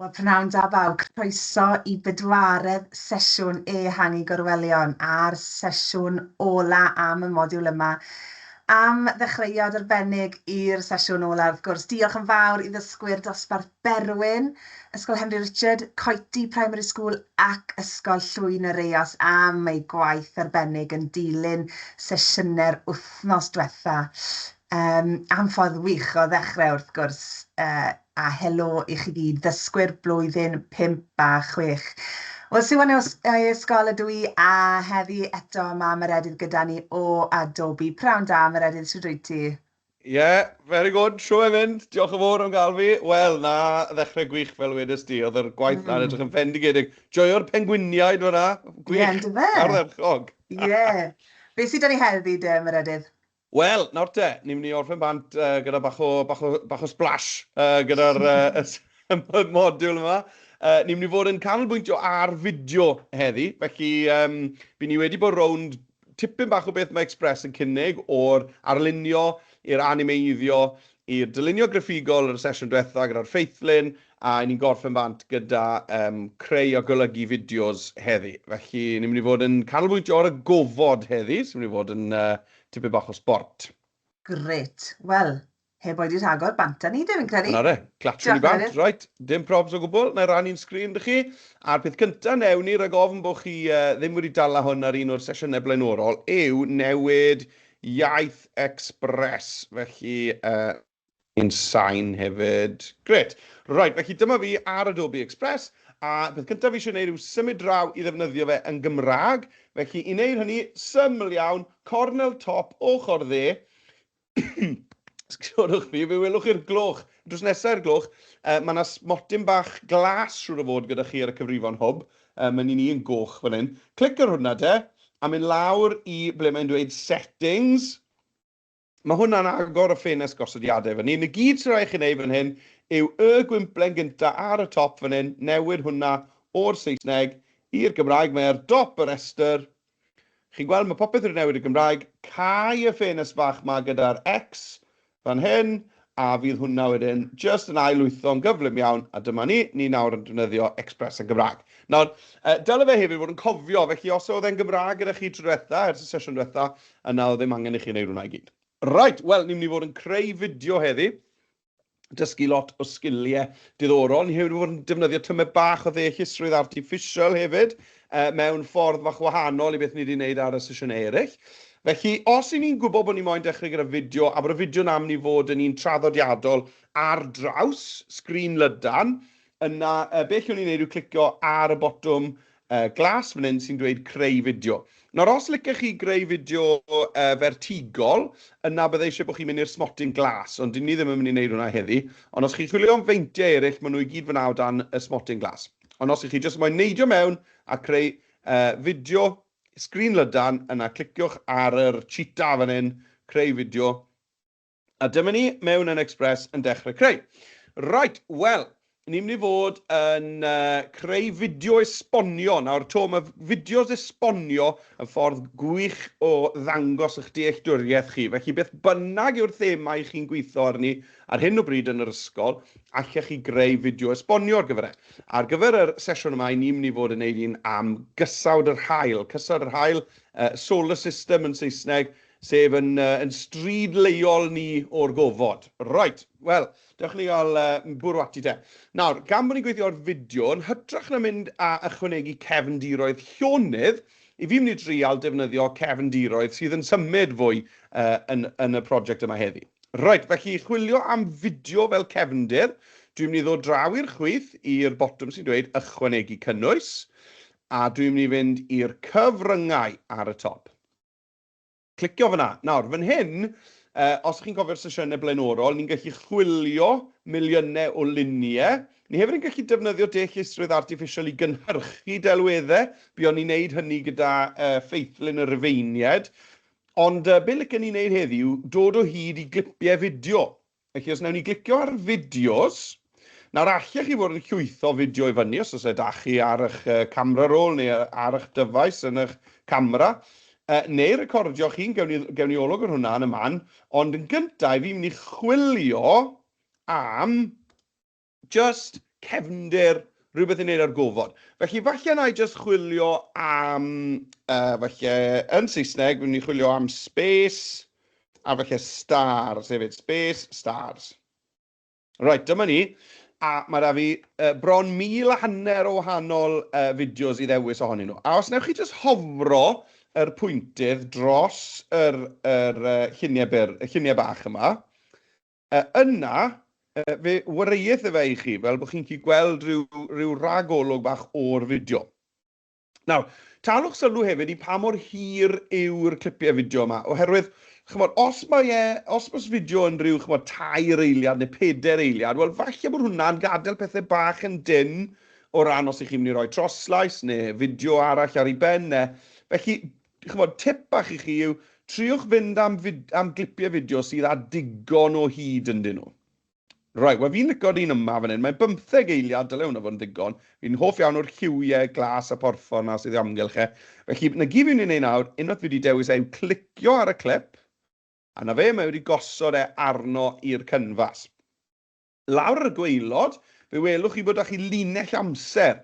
Wel, pnawn da bawb, croeso i bedwaredd sesiwn Ehangu Gorwelion a'r sesiwn ola am y modiwl yma. Am ddechreuad arbennig i'r sesiwn ola, wrth gwrs, diolch yn fawr i ddysgwyr Dosbarth Berwyn, Ysgol Henry Richard, Coety Primary School ac Ysgol Llwyn yr Eos am eu gwaith arbennig yn dilyn sesiynau'r wythnos diwetha'. Yym, am ffordd wych o ddechrau wrth gwrs, uh, a helo i chi gyd, ddysgwyr blwyddyn 5 a 6. Wel, Siwan yw ei ysgol ydw i, a heddi eto mae Meredydd gyda ni o Adobe. Prawn da, Meredydd, sydd rwyt ti? Ie, yeah, very good, siw e'n mynd, diolch yn fawr am gael fi. Wel, na, ddechrau gwych fel wedys di, oedd yr gwaith mm. na'n edrych yn fendigedig. Joio'r pengwiniaid fyna, gwych, yeah, ardderchog. Ie, yeah. beth sydd da ni heddi, dy, Meredydd? Wel, nawr te, ni'n mynd i orffen bant gyda bach o, bach o, bach o splash gyda'r modiwl yma. Ni'n mynd i fod yn canolbwyntio ar fideo heddi, felly by' ni wedi bod rownd tipyn bach o beth mae Express yn cynnig, o'r arlunio i'r animeiddio i'r dylunio graffigol yn y sesiwn diwetha' gyda'r ffeithlun, a 'yn ni'n gorffen bant gyda yym creu a golygu fideos heddi. Felly, ni'n mynd i fod yn canolbwyntio ar y gofod heddi, sy'n mynd i fod yn yy tipyn bach o sbort. Grêt. Wel, heb oedi rhagor, bant â ni de, fi'n credu. Dyna fe, glatswn ni bant. Reit, dim probs o gwbl, na i rannu'n sgrin 'da chi. A'r peth cynta newn ni, rhag ofn bod chi yy ddim wedi dala hwn ar un o'r sesiynau blaenorol, yw newid Iaith Express, felly yy yn sain hefyd. Grêt! Reit, felly dyma fi ar Adobe Express, a peth cyntaf fi eisiau gwneud yw symud draw i ddefnyddio fe yn Gymraeg, felly i wneud hynny, syml iawn, cornel top, ochr dde, sgsiorwch fi, fe welwch chi'r gloch, drws nesaf i'r gloch, yy, mae 'na smotyn bach glas siŵr o fod gyda chi ar y cyfrifon hwb, Yy mae'n un i yn goch fan hyn. Clic ar hwnna de, a mynd lawr i ble mae'n dweud settings. Mae hwnna'n agor y ffenest gosodiadau fan hyn. Y gyd sy'n rhaid i chi wneud fan hyn yw y gwymplen gyntaf ar y top fan hyn, newid hwnna o'r Saesneg i'r Gymraeg, mae ar dop y rhestr, Chi'n gweld, mae popeth wedi newid y Gymraeg. Cau y ffenest fach 'ma gyda'r X fan hyn, a fydd hwnna wedyn jyst yn ail-lwytho'n gyflym iawn, a dyma ni, ni nawr yn defnyddio Express yn Gymraeg. Nawr, dyle fe hefyd fod yn cofio, felly os oedd e'n Gymraeg gyda chi tro diwetha, ers y sesiwn diwetha, yna oedd ddim angen i chi wneud hwnna i gyd. Reit, wel, ni'n mynd i fod yn creu fideo heddi, dysgu lot o sgiliau diddorol. Ni hefyd wedi bod yn defnyddio tymed bach o ddeallusrwydd artiffisial hefyd, uh, mewn ffordd fach wahanol i beth ni wedi gwneud ar y sesiynau eraill. Felly, os i ni'n gwybod bod ni moyn dechrau gyda fideo, a bod y fideo na mynd i fod yn un traddodiadol ar draws sgrin lydan, Yna, be allwn ni wneud yw clicio ar y botwm glas fan hyn sy'n dweud creu fideo. Nawr, os licech chi greu fideo fertigol, yna bydda i eisiau bod chi'n mynd i'r smotyn glas, ond dyn ni ddim yn mynd i wneud hwnna heddi. Ond os chi'n chwilio am feintiau eraill, maen nhw i gyd fan'na o dan y smotyn glas. Ond os ych chi jyst moyn neidio mewn a creu fideo sgrin lydan, yna cliciwch ar yr cheetah fan hyn, creu fideo, A dyma ni mewn yn Express yn dechrau creu. Right, wel, ni'n mynd i fod yn uh, creu fideo esbonio. Nawr, to, mae fideos esbonio yn ffordd gwych o ddangos eich dealltwriaeth chi. Felly, beth bynnag yw'r thema i chi'n gweithio arni ar hyn o bryd yn yr ysgol, allech chi greu fideo esbonio ar gyfer e. Ar gyfer y sesiwn yma, ni'n mynd i fod yn neud un am gysawd yr hael. Cysawd yr hael, uh, solar system yn Saesneg, Sef yn yn stryd leol ni o'r gofod. Reit, wel, dewch i ni gael yy bwrw ati te. Nawr, gan bod ni'n gweithio ar fideo, yn hytrach na mynd a ychwanegu cefndiroedd llonydd, 'y fi'n mynd i drial defnyddio cefndiroedd sydd yn symud fwy yy yn yn y project yma heddi. Reit, felly chwilio am fideo fel cefndir, dwi'n mynd i ddod draw i'r chwith i'r botwm sy'n dweud ychwanegu cynnwys, a dwi'n mynd i fynd i'r cyfryngau ar y top. Clicio fan'na. Nawr, fan hyn, os chi'n cofio'r sesiynau blaenorol, ni'n gallu chwilio miliynau o luniau. Ni hefyd yn gallu defnyddio deallusrwydd artiffisial i gynhyrchu delweddau. Buon ni'n neud hynny gyda Ffeithlyn y Rufeiniaid. Ond be licen ni neud heddi yw dod o hyd i glipiau fideo Felly, os wnawn ni glicio ar fideos, nawr allech chi fod yn llwytho fideo i fyny os oes e da chi ar eich camera roll neu ar eich dyfais yn eich camera, neu recordio chi'n gewn ni, gewn ni olwg ar hwnna yn y man, ond yn gyntaf, fi'n mynd i chwilio am Jyst cefndir, rhywbeth i wneud ar gofod. Felly falle wna i jyst chwilio am, uh, falle yn Saesneg, fi'n mynd i chwilio am space, a falle stars hefyd, space, stars. Right, dyma ni. A mae rhaid fi uh, bron mil a hanner o wahanol uh, fideos i ddewis ohonyn nhw. A os newch chi jyst hofro yr pwyntydd dros yr, yr uh, lluniau, byr, y lluniau bach yma, A yna, fe wareuith e fe i chi, fel bod chi'n gallu gweld rhyw, rhyw ragolwg bach o'r fideo. Nawr, talwch sylw hefyd i pa mor hir yw'r clipiau fideo yma, oherwydd, chymod, os mae e, os mae fideo yn rhyw, chymod, tair eiliad neu peder eiliad, wel, falle bod hwnna'n gadael pethau bach yn dynn o ran os ych chi'n mynd i roi troslais neu fideo arall ar ei ben e. Felly, Chibod, tip bach i chi yw, triwch fynd am fid- am glipiau fideo sydd â digon o hyd ynddyn nhw. Reit, wel fi'n licio'r un yma fan hyn, mae'n bymtheg eiliad, dyle hwnna fod yn ddigon. Fi'n hoff iawn o'r lliwiau glas a phorffor 'na sydd o amgylch e. Felly, 'na gyd fi'n mynd i wneud nawr, unwaith fi wedi dewis e, yw clicio ar y clip, a 'na fe, mae wedi gosod e arno i'r canfas. Lawr ar y gwaelod, fe welwch chi bod 'da chi linell amser,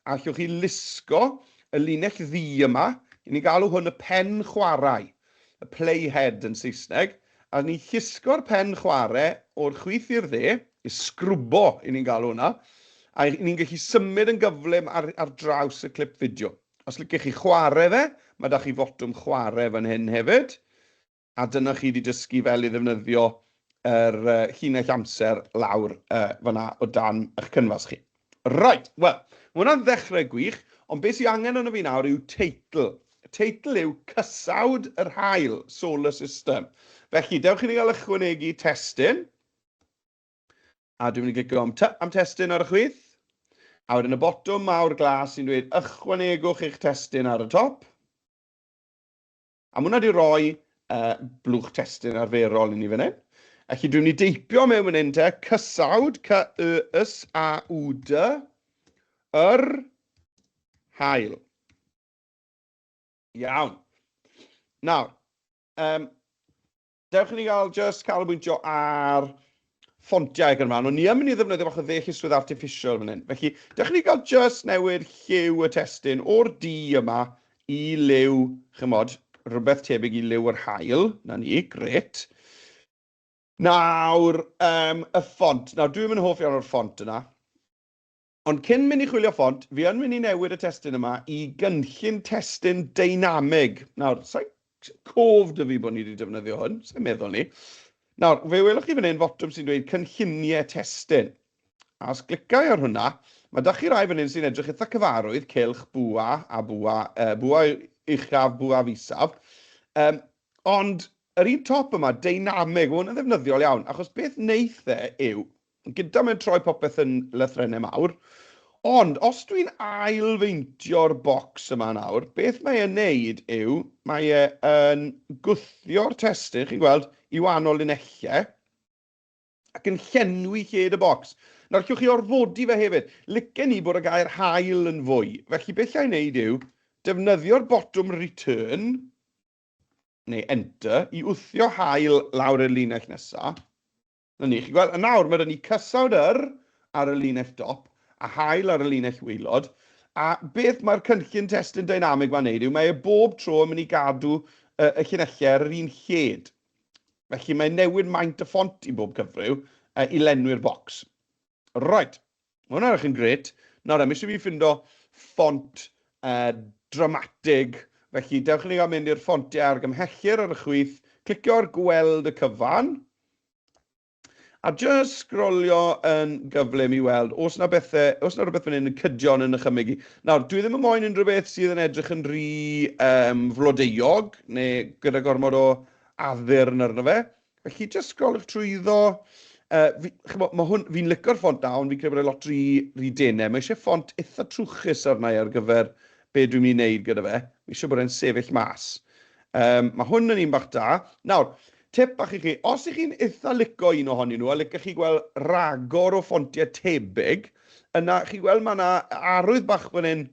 a allwch chi lusgo y linell ddu yma, i ni'n galw hwn y pen chwarae, y play head yn Saesneg, a ni'n llusgo'r pen chware o'r chwith i'r dde, y sgrwbo i ni'n galw hwnna, a ni'n gallu symud yn gyflym ar ar draws y clip fideo. Os liciwch chi chware fe, ma' 'da chi fotwm chware fan hyn hefyd. a dyna chi 'di dysgu fel i ddefnyddio yr llinell amser lawr fan'na o dan eich cynfas chi. Reit, wel, ma' hwnna'n ddechrau gwych, ond be sy angen arno fi nawr yw teitl. Y teitl yw Cysawd yr Haul, Solar System. Felly, dewch i ni gael ychwanegu testun, a dwi'n mynd i glicio am T am testun ar y chwith, a wedyn y botwm mawr glas sy'n dweud ychwanegwch eich testun ar y top. A mwna di roi uh, blwch testyn arferol i ni fan hyn. Ac i dwi'n ni deipio mewn fan hyn te, cysawd, cy y ys a w d, yr hael. Iawn. Nawr, um, Dewch i ni gael just canolbwyntio ar ffontiau ac yn rhan. O'n ni yn mynd i ddefnyddio bach o ddeallusrwydd artificial fan hyn. Felly, dewch i ni gael just newid lliw y testyn o'r du yma i liw, chymod, rhywbeth tebyg i liw yr hael. Na ni, gret. Nawr, um, y ffont. Nawr, dwi'n mynd hoff iawn o'r ffont yna. Ond cyn mynd i chwilio ffont, fi yn mynd i newid y testun yma i gynllun testun deinamig. Nawr, sa i'n cof 'da fi bod ni 'di defnyddio hwn, sa i'n meddwl 'ny. Nawr, fe welwch chi fan hyn fotwm sy'n dweud cynlluniau testun. A os glica i ar hwnna, mae 'da chi rai fan hyn sy'n edrych eitha cyfarwydd, cylch, bwa, a bwa, yy bwa uchaf, bwaf isaf. Um, ond yr un top yma, deinamig, mae hwn yn ddefnyddiol iawn, achos beth wneith e yw, Yn gynta mae'n troi popeth yn lythrennau mawr, ond os dwi'n ailfeintio'r bocs yma nawr, beth mae e'n neud yw, mae e yn gwthio'r testun, chi'n gweld, i wahanol linellau, ac yn llenwi lled y bocs. Nawr, llwch chi orfodi fe hefyd. Licen ni bod y gair hael yn fwy. Felly, beth llai wneud yw defnyddio'r botwm return, neu enter, i wthio hael lawr i'r linell nesaf. Na ni, chi'n gweld? A nawr mae 'da ni cysawd yr ar y linell dop a haul ar y linell waelod, a beth mae'r cynllun testun dynamig ma'n neud yw mae e bob tro yn mynd i gadw y, y llinellau ar yr un lled. Felly mae'n newid maint y ffont i bob cyfryw uh, i lenwi'r bocs. Right, mae hwnna'n edrych yn gret. Nawr, am eisiau fi ffindo ffont uh, dramatig, felly dewch i ni gael mynd i'r ffontiau ar gymhellir ar y chwith, clicio ar gweld y cyfan, a just sgrolio yn gyflym i weld os na bethau, os na rhywbeth fan hyn yn cydion yn ychymyg i. Nawr, dwi ddim yn moyn unrhyw beth sydd yn edrych yn rhy um, flodeuog, neu gyda gormod o addurn arno fe. Felly, jyst scrollwch trwyddo. Uh, fi, chymod, ma hwn, fi'n licor ffont da, ond fi'n credu bod e lot rhy, rhy denau. Mae eisiau ffont eitha trwchus arna i ar gyfer be dwi'n mynd i wneud gyda fe. Mae eisiau bod e'n sefyll mas. Um, mae hwn yn un bach da. Nawr, tip bach i chi, os ych chi'n eitha lico un ohonyn nhw, a licach chi gweld ragor o ffontiau tebyg, yna chi'n gweld mae yna arwydd bach fan hyn,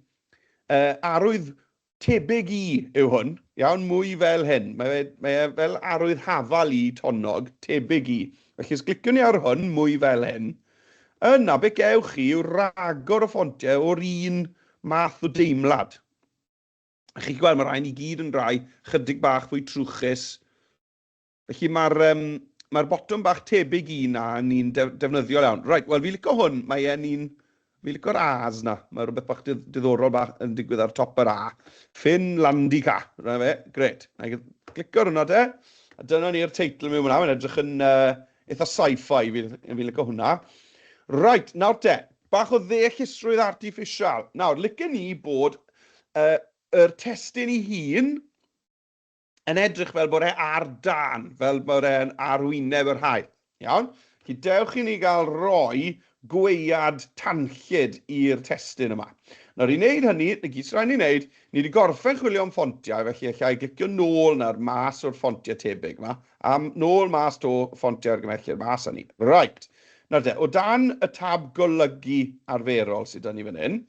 uh, arwydd Tebyg i yw hwn, iawn, mwy fel hyn. Mae fe, mae e fel arwydd hafal i tonnog, tebyg i. Felly os gliciwn ni ar hwn, mwy fel hyn, yna beth gewch chi yw ragor o ffontiau o'r un math o deimlad. A chi'n gweld, mae rhain i gyd yn rai chydig bach fwy trwchus, Felly mae'r yym mae'r botwm bach tebyg i un a ni'n defnyddiol iawn. Reit, wel fi'n licio hwn, mae e'n un... fi'n licio'r A's na, mae rhywbeth bach diddorol bach yn digwydd ar top yr A. Ffin Landy Ca, dyna fe, gret. Na i glicio ar hwnna te, a dyna ni'r teitl mewn fan'na, mae'n edrych yn uh, eitha sci-fi, fi'n fi licio hwnna. Reit, nawr te, bach o ddeallusrwydd artiffisial. Nawr, licen ni bod uh, yr testyn i hun yn edrych fel bod e ar dan, fel bod e'n arwyneb yr haul. Iawn? Felly dewch i ni gael rhoi gwead tanllyd i'r testun yma. Nawr i wneud hynny, y gyd sy'n rhaid ni wneud, ni wedi gorffen chwilio am ffontiau, felly alla i glicio nôl nawr mas o'r ffontiau tebyg yma, a nôl mas to ffontiau argymhellir mas â ni. Right. Nawr de, o dan y tab golygu arferol sydd 'da ni fan hyn,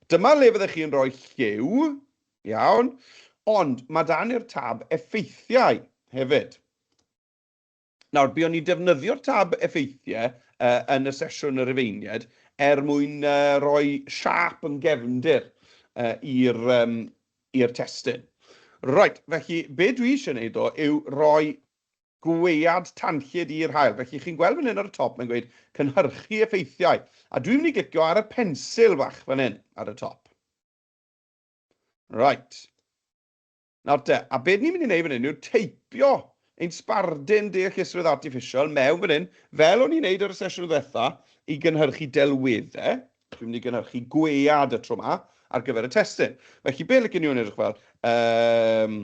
dyma le fyddech chi'n rhoi lliw, Iawn? Ond mae 'da ni'r tab Effeithiau hefyd. Nawr, buon ni'n defnyddio'r tab Effeithiau uh, yn y sesiwn y Rufeiniaid er mwyn uh, rhoi siap yn gefndir uh, i'r um, testyn. Right, felly, be dwi eisiau gwneud o yw rhoi gwead tanllyd i'r hael. Felly, chi'n gweld fan hyn ar y top, mae'n gweud cynhyrchu effeithiau. A dwi'n mynd i glicio ar y pensil fach fan hyn ar y top. Right. Nawr te, a beth ni'n mynd i wneud fan hyn yw teipio ein sbardun deallusrwydd artificial mewn fan hyn, fel o'n i'n neud ar y sesiwn ddiwetha, i gynhyrchu delweddau. Dwi'n mynd i gynhyrchu gwead y tro yma ar gyfer y testyn. Felly, be licen ni o'n edrych fel? Um,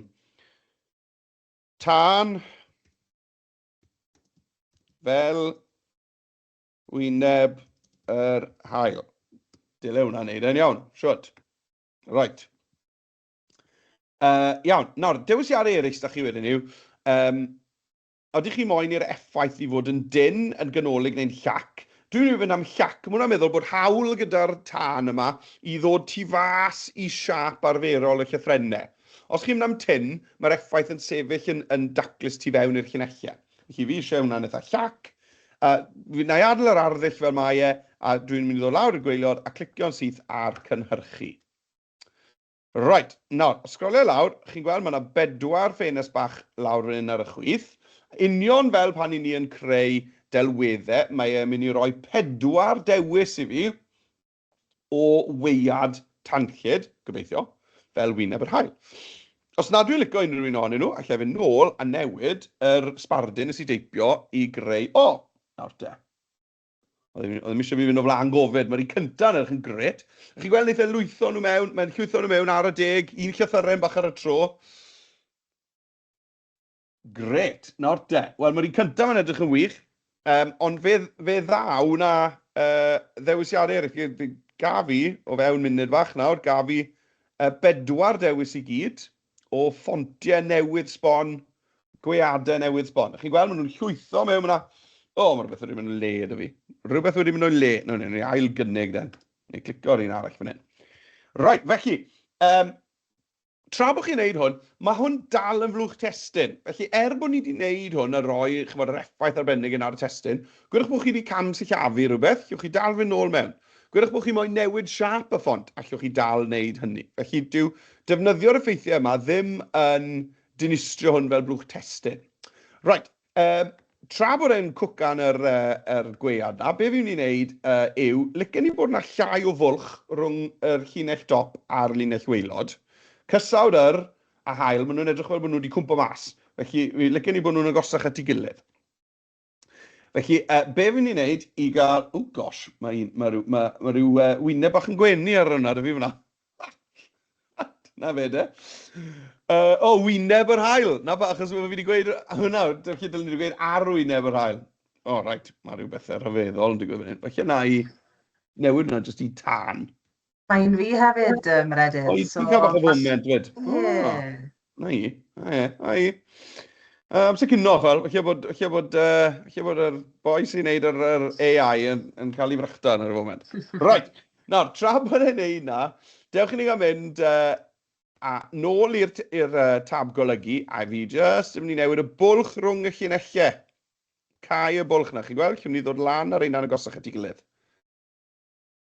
tân fel Wyneb yr hael. Dyle hwnna wneud e'n iawn. Siwt. Right. Uh, iawn. Nawr, dewisiadau eraill da chi wedyn yw, um, oeddech chi moyn i'r effaith i fod yn dyn, yn ganolig neu'n llac? Dwi'n mynd i fynd am llac. Mae hwnna'n meddwl bod hawl gyda'r tân yma i ddod tu fas i siap arferol y llythrennau. Os chi'n mynd am tyn, mae'r effaith yn sefyll yn, yn daclus tu fewn i'r llunellau. Felly fi eisiau hwnna'n eitha llac. A fi wna i adael yr arddull fel mae e, a dwi'n mynd i ddod lawr y gweilod a clicio'n syth ar cynhyrchu. Right, nawr, os sgrolio lawr, chi'n gweld mae yna bedwar ffenest bach lawr fan hyn ar y chwith. Union fel pan i ni yn creu delweddau, mae e'n mynd i roi pedwar dewis i fi. o waead tanllyd, gobeithio, fel wyneb yr haul. Os nad dwi'n licio unrhyw un ohonyn nhw, allai fynd nôl a newid yr sbardun nes i deipio i greu... O! Nawr te. Oedd e ddim eisiau fi fynd o flaen gofid. Mae'r un cyntaf yn edrych yn gret. A chi'n gweld, wneith e lwytho nhw mewn, mae'n llwytho nhw mewn ar y deg, un llythyren bach ar y tro. Gret, nawr de. Wel, mae'r un cyntaf yn edrych yn wych, um, ond fe, fe ddaw na uh, ddewisiadau eraill. Gaf i, o fewn munud fach nawr, gaf i uh, bedwar dewis i gyd o ffontiau newydd sbon, gweadau newydd sbon. Chi'n gweld, maen nhw'n llwytho mewn, mae'na... O, oh, mae rhywbeth wedi mynd yn le, da fi. Rhywbeth wedi mynd yn le. No, no, no, ail gynnig, den. Neu clico ar un arall fan hyn. Right, felly, um, tra bod chi'n wneud hwn, mae hwn dal yn flwch testun. Felly, er bod ni wedi wneud hwn a rhoi, chimod, yr effaith arbennig yna ar y testun, gwedwch bod chi wedi cam-sillafu rhywbeth, allwch chi dal fynd nôl mewn. Gwedwch bod chi moyn newid siâp y ffont, allwch chi dal wneud hynny. Felly, dyw defnyddio'r effeithiau yma ddim yn dinistrio hwn fel blwch testun. Reit, Yy, tra bod e'n cwcan yr, uh, yr gwead na, be fi'n ni'n neud uh, yw, licen ni bod yna llai o fwlch rhwng yr llinell dop a'r linell weilod. Cysawd yr a hael, maen nhw'n edrych fel bod nhw wedi cwmpo mas. Felly, licen ni bod nhw'n agosach at ei gilydd. Felly, uh, be fi'n ni'n neud i gael... O, oh gosh, mae, un, mae rhyw, mae, mae rhyw uh, wyneb bach yn gwenu ar hwnna, dy fi fyna. 'Na fe de. Yy, o, wyneb yr haul! 'Na fe, achos fi wedi gweud hwnna, felly dylen ni wedi gweud ar wyneb yr haul. O, oh, reit, mae rhyw bethau rhyfeddol yn digwydd fan hyn. Felly na i newid hwnna jyst i tan. Mae'n fi hefyd, um, Meredydd. O, i so, cael bach o foment, fyd. Ie. 'Na hi. O ie, 'na hi. Yy amser cino, chwel. Falle bod, falle bod, uh, falle bod yr boi sy'n neud yr, yr AI yn, yn cael ei frychta yn yr foment. Right, nawr, tra bod e'n neud na, dewch i ni gael mynd uh, a nôl i'r uh, tab golygu, a fi jyst yn mynd i newid y bwlch rhwng y llinellau. Cau y bwlch na, chi'n gweld? Chi'n mynd i ddod lan ar ein agosach at ei gilydd.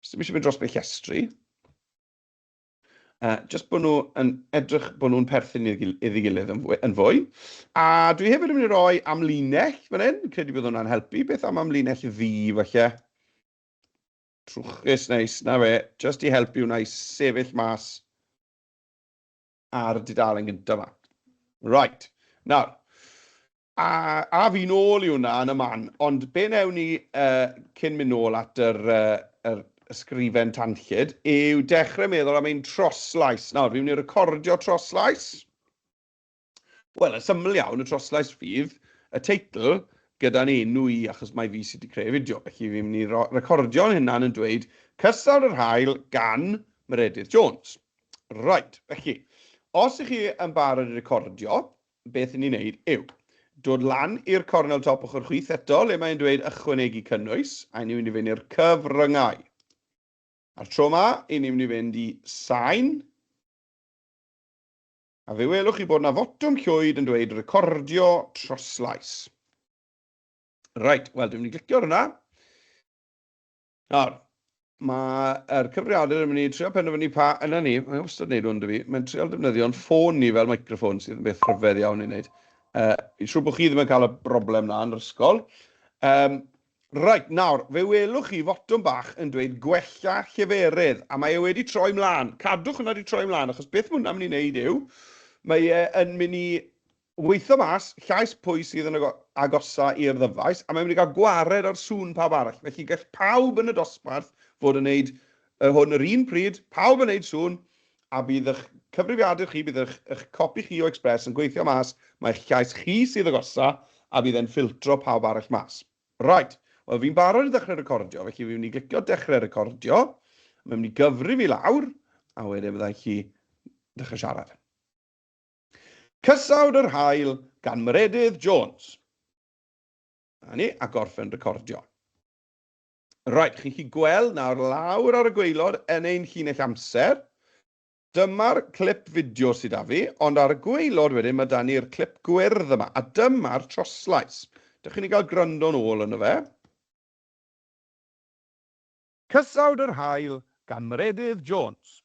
Jyst yn mynd i mynd dros beth llestri. Uh, just bod nhw yn edrych bod nhw'n perthyn iddi gilydd yn fwy, yn fwy. A dwi hefyd yn mynd i roi amlinell fan hyn, credu bod hwnna'n helpu. Beth am amlinell ddi, falle? Trwchus neis, na fe, just i helpu hwnna i sefyll mas ar dudalen gyntaf yma. Right, nawr, A af i nôl i hwnna yn y man. Ond be wnewn ni cyn mynd nôl at yr ysgrifen tanllyd yw dechrau meddwl am ein troslais. Nawr, fi'n mynd i recordio troslais. Wel, yn syml iawn, y troslais fydd y teitl gyda'n enw i, achos mae fi sydd wedi creu fideo. Felly fi'n mynd i recordio'n hunan yn dweud Cystadl yr Haul gan Meredydd Jones. Reit, felly, os ych chi yn barod i recordio, beth i ni wneud yw dod lan i'r cornel top ochr chwith eto, le mae'n dweud ychwanegu cynnwys, a ni'n mynd i fynd i'r cyfryngau. A'r tro yma, i ni'n mynd i fynd i sain, a fe welwch chi bod yna fotwm llwyd yn dweud recordio troslais. Reit, wel dwi'n mynd i glicio ar hwnna. Nawr, mae'r cyfrifiadur yn mynd i trio penderfynu pa... Yna ni, mae'n wastad wneud hwn 'da fi. Mae'n trial defnyddio'n ffôn ni fel microffon, sydd yn beth rhyfedd iawn i wneud. Uh, fi'n siŵr bod chi ddim yn cael y broblem na yn yr ysgol. Um, Reit, nawr, fe welwch chi fotwm bach yn dweud gwella lleferydd, a mae e wedi troi mlaen. Cadwch hwnna wedi troi mlaen, achos beth mae hwnna'n mynd i wneud yw, mae e yn mynd i Weithio mas llais pwy sydd yn agosa i'r ddyfais, a mae'n mynd i gael gwared ar sŵn pawb arall. Felly gall pawb yn y dosbarth fod yn wneud y hwn yr un pryd, pawb yn wneud sŵn, a bydd eich cyfrifiadur chi, bydd eich, eich copi chi o Express yn gweithio mas mae'ch llais chi sydd agosa, a bydd e'n ffiltro pawb arall mas. Right, wel fi'n barod i ddechrau recordio, felly fi'n mynd i glicio dechrau recordio, mae'n mynd i gyfrif i lawr, a wedyn fydda i chi ddechrau siarad. Cysawd yr Haul gan Meredydd Jones. Na ni, a gorffen recordio. Rhaid chi chi gweld nawr lawr ar y gweilod yn ein llinell amser. Dyma'r clip fideo sydd â fi, ond ar y gweilod wedyn mae da ni'r clip gwyrdd yma, a dyma'r troslais. Dych chi'n ei gael gwrando'n ôl yn y fe? Cysawd yr Haul gan Meredydd Jones.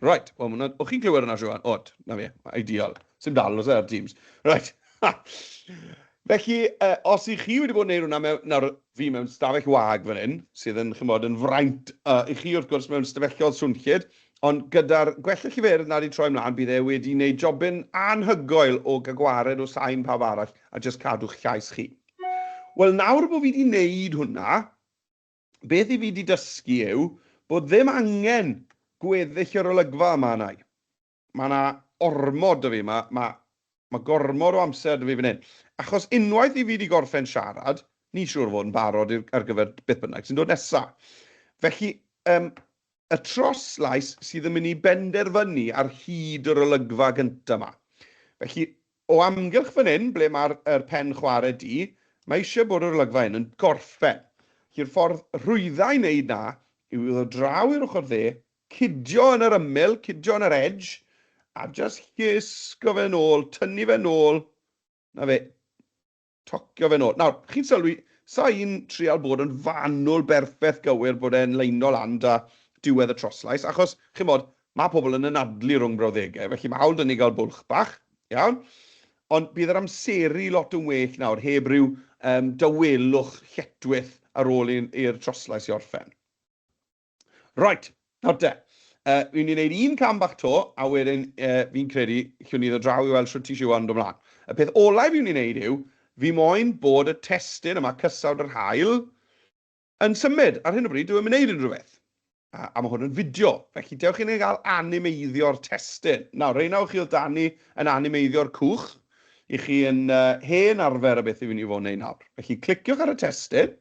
Right, wel, mwna, o'ch chi'n clywed yna, Siwan? Od, na fe, ideal. Sym dal, os e, ar Teams. Right. Felly, uh, os ych chi wedi bod yn neud hwnna, mewn, nawr fi mewn stafell wag fan hyn, sydd yn chymod yn fraint uh, i chi wrth gwrs mewn stafellodd swnllyd, ond gyda'r gwella lliferydd nad i troi mlaen, bydd e wedi wneud jobyn anhygoel o gagwared o sain pawb arall a jyst cadw'ch llais chi. Wel, nawr bod fi wedi wneud hwnna, Beth i fi 'di dysgu yw bod ddim angen gweddill yr olygfa yma arna'i. Mae 'na ormod 'da fi, ma' ma' ma' gormod o amser 'da fi fan hyn. Achos unwaith i fi 'di gorffen siarad, ni'n siŵr o fod yn barod i'r ar gyfer beth bynnag sy'n dod nesa. Felly, yym, Y troslais sydd yn mynd i benderfynu ar hyd yr olygfa gyntaf 'ma. Felly, o amgylch fan hyn, ble mae'r yr pen chwarae du, mae eisiau bod yr olygfa hyn yn gorffen. Felly'r ffordd rhwydda i wneud 'na yw i ddod draw i'r ochr dde, cydio yn yr ymyl, cydio yn yr edge, a jyst llusgo fe'n ôl, tynnu fe'n ôl, 'na fe. tocio fe nôl. Nawr, chi'n sylwi, sa i'n trial bod yn fanwl berffeth gywir bod e'n leino lan 'da diwedd y troslais, achos, chimod, ma' pobl yn anadlu rhwng brawddegau, felly ma' hawl 'da ni gael bwlch bach, iawn? Ond bydd yr amseru lot yn well nawr, heb ryw yym dawelwch lletwith ar ôl i'r troslais i orffen. Reit, nawr de, uh, fi'n mynd i wneud un cam bach to, a wedyn uh, fi'n credu chi'n iddo draw i weld sut i siwa yn dod mlaen. Y peth olau fi'n mynd i wneud yw, fi moyn bod y testyn yma cysawd yr hael yn symud. Ar hyn o bryd, dwi'n mynd i wneud unrhyw beth. A, a mae hwn yn fideo, felly dewch i'n ei gael animeiddio'r testyn. Nawr, reina o chi oedd Dani yn animeiddio'r cwch, i chi yn uh, hen arfer y beth i fi'n i fod yn ei nawr. Felly, cliciwch ar y testyn,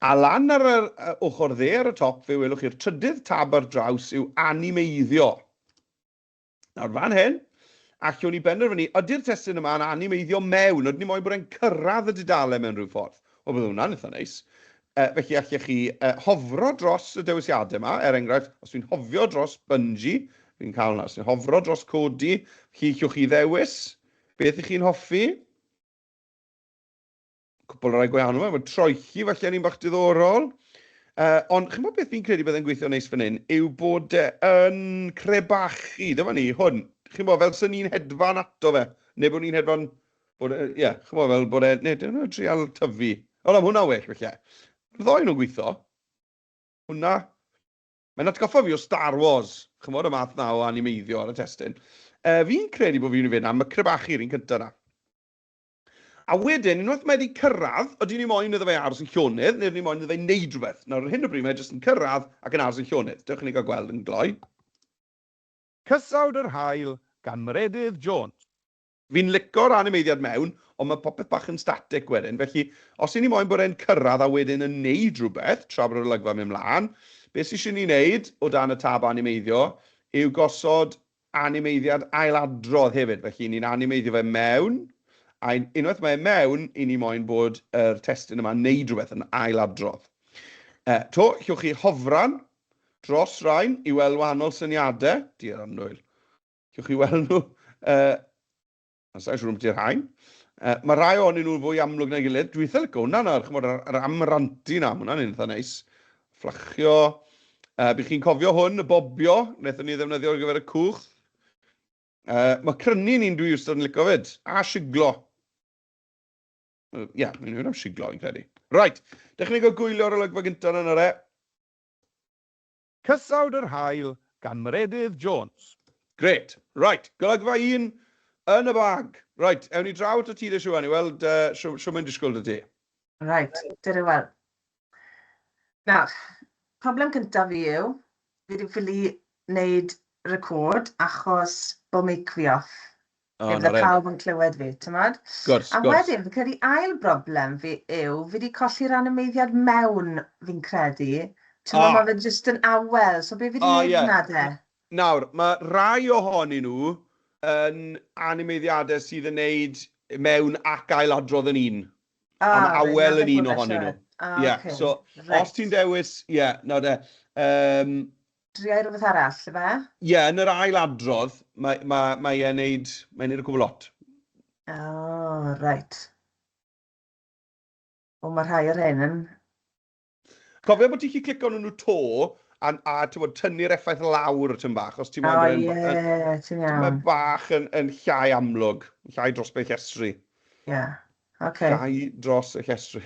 A lan ar yr ochr dde ar y top fe welwch chi'r trydydd tab ar draws yw Animeiddio. Nawr fan hyn, allwn ni benderfynu ydy'r testun yma yn animeiddio mewn, ydyn ni moyn bod e'n cyrraedd y dudalen mewn rhyw ffordd. Wel bydd hwnna'n eitha neis. Uh, felly allech chi uh, hofro dros y dewisiadau yma, er enghraifft, os fi'n hofio dros Bungie, fi'n cael hwnna, os fi'n hofro dros Cody, chi allwch chi ddewis beth ych chi'n hoffi. cwpl rai gwahanol, efo troelli falle yn un bach diddorol. Uh, ond chi'n bod beth fi'n credu byddai'n gweithio neis fan hyn, yw bod e yn crebachu, dyma ni, hwn. Chi'n bod, fel sy'n ni'n hedfan ato fe, neu bod ni'n hedfan, bod e, ie, yeah, chi'n bod, fel bod e, neu dyn nhw'n trial tyfu. O, am hwnna well, felly. Ddoi nhw'n gweithio. Hwna, mae'n atgoffa fi o Star Wars, chi'n bod, y math na o animeiddio ar y testyn. Uh, fi'n credu bod fi'n mynd am y crebachu, rhywun cyntaf na. A wedyn, unwaith mae 'di cyrraedd, ydyn ni moyn iddo fe aros yn llonydd, neu ydyn ni moyn iddo fe wneud rhywbeth? Nawr, ar hyn o bryd, mae e jyst yn cyrraedd ac yn aros yn llonydd. Dewch i ni gael gweld yn gloi. Cysawd yr Haul gan Meredydd Jones. Fi'n lico'r animeiddiad mewn, ond mae popeth bach yn static wedyn. Felly, os 'yn ni moyn bod e'n cyrraedd a wedyn yn wneud rhywbeth, tra bod yr olygfa'n mynd mlaen, be sy isie ni wneud, o dan y tab animeiddio, yw gosod animeiddiad ailadrodd hefyd, felly ni'n animeiddio fe mewn, a unwaith mae e mewn, i ni moyn bod yr testun yma'n neud rhywbeth yn ailadrodd. E, to, llwch chi hofran dros rain i weld wahanol syniadau, di'r annwyl. Llwch chi weld nhw e, Sa'n siŵr am ti'r hain. Uh, mae rhai ohonyn nhw'n fwy amlwg na'i gilydd. Dwi'n eitha licio hwnna nawr, chymod, yr, yr amranti na, hwnna'n un eitha neis. Fflachio. Uh, Bych chi'n cofio hwn, y bobio, wnaethon ni ddefnyddio ar gyfer y cwch. Uh, mae crynu ni'n dwi wrth yn licio fyd, a siglo. Ie, yeah, mae'n mynd am siglo, i'n credu. Right, dechrau go gwylio'r olygfa gyntaf yna, e. Cysawd yr Haul gan Meredydd Jones. Grêt. Reit, golygfa un yn y bag. Reit, ewn ni draw atat ti de Siwan i weld yy shw mae'n disgwyl 'da ti. Reit, dere i weld. Nawr, problem cyntaf fi yw, fi 'di ffili neud record achos bo' meic fi off. Lle fydde pawb yn clywed fi, timod? Gwrs, gwrs. A wedyn, fi'n credu ail broblem fi yw, fi 'di colli'r animeiddiad mewn, fi'n credu. Timod... O! ...ma' fe jyst yn awel, so be fi 'di neud yna de? O ie. Nawr, ma' rai ohonyn nhw yn animeiddiade sydd yn neud mewn ac ail-adrodd yn un. A reit, 'na fe. A ma' awel yn un ohonyn nhw. A ocê. Ie, so os ti'n dewis, ie, nawr de, yym, Dria i rywbeth arall, ife? Ie, yn yr ail adrodd, mae, mae, mae e'n neud, mae'n neud y gwbl lot. O, oh, reit. O, mae rhai o'r hyn yn... Cofio bod ti'n chi clicio nhw nhw to, a, a bod, tynnu'r effaith lawr ti'n bach, os ti'n meddwl... O, ie, yeah, ti'n iawn. Mae bach yn, yn llai amlwg, llai dros beth llestri. Ie, yeah. okay. Llai dros y llestri.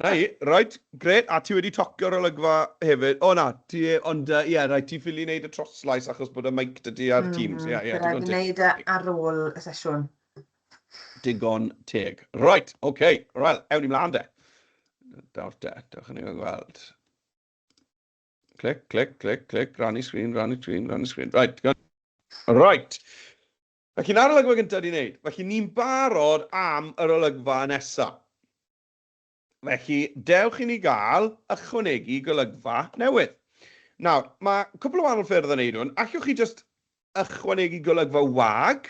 'Na hi, reit, grêt, a ti wedi tocio'r olygfa hefyd? O na, ti, ond yy ie, reit, ti'n ffili neud y troslais achos bod y meic 'da ti ar Teams. Ie, ie, digon teg. Bydd raid fi neud e ar ôl y sesiwn. Digon teg. Reit, oce, wel, ewn ni mlan de. Daw'r de, dewch i ni weld. Clic, clic, clic, clic, rannu sgrin, rannu sgrin, rannu sgrin. Right, digon. Right. Felly, na'r olygfa gyntaf di wneud. Felly, ni'n barod am yr olygfa nesa. Felly, dewch i ni gael ychwanegu golygfa newydd. Nawr, mae cwpl o wahanol ffyrdd o wneud hwn. Allwch chi jyst ychwanegu golygfa wag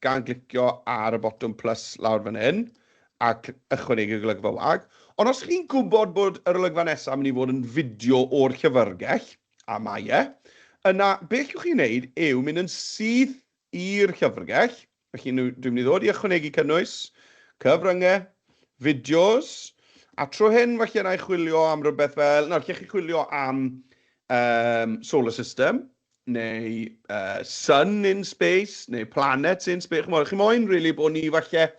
gan glicio ar y botwm plus lawr fan hyn a ychwanegu golygfa wag. Ond os chi'n gwybod bod yr olygfa nesaf yn mynd i fod yn fideo o'r llyfrgell, a mae e, yna beth allwch chi wneud yw mynd yn syth i'r llyfrgell, Felly, dwi'n mynd i ddod i ychwanegu cynnwys, cyfryngau, fideos, a tro hyn, felly, yna i chwilio am rhywbeth fel, nawr, lle chi chwilio am um, solar system, neu uh, sun in space, neu planets in space, chymod, chi moyn, rili, really, bod ni, falle,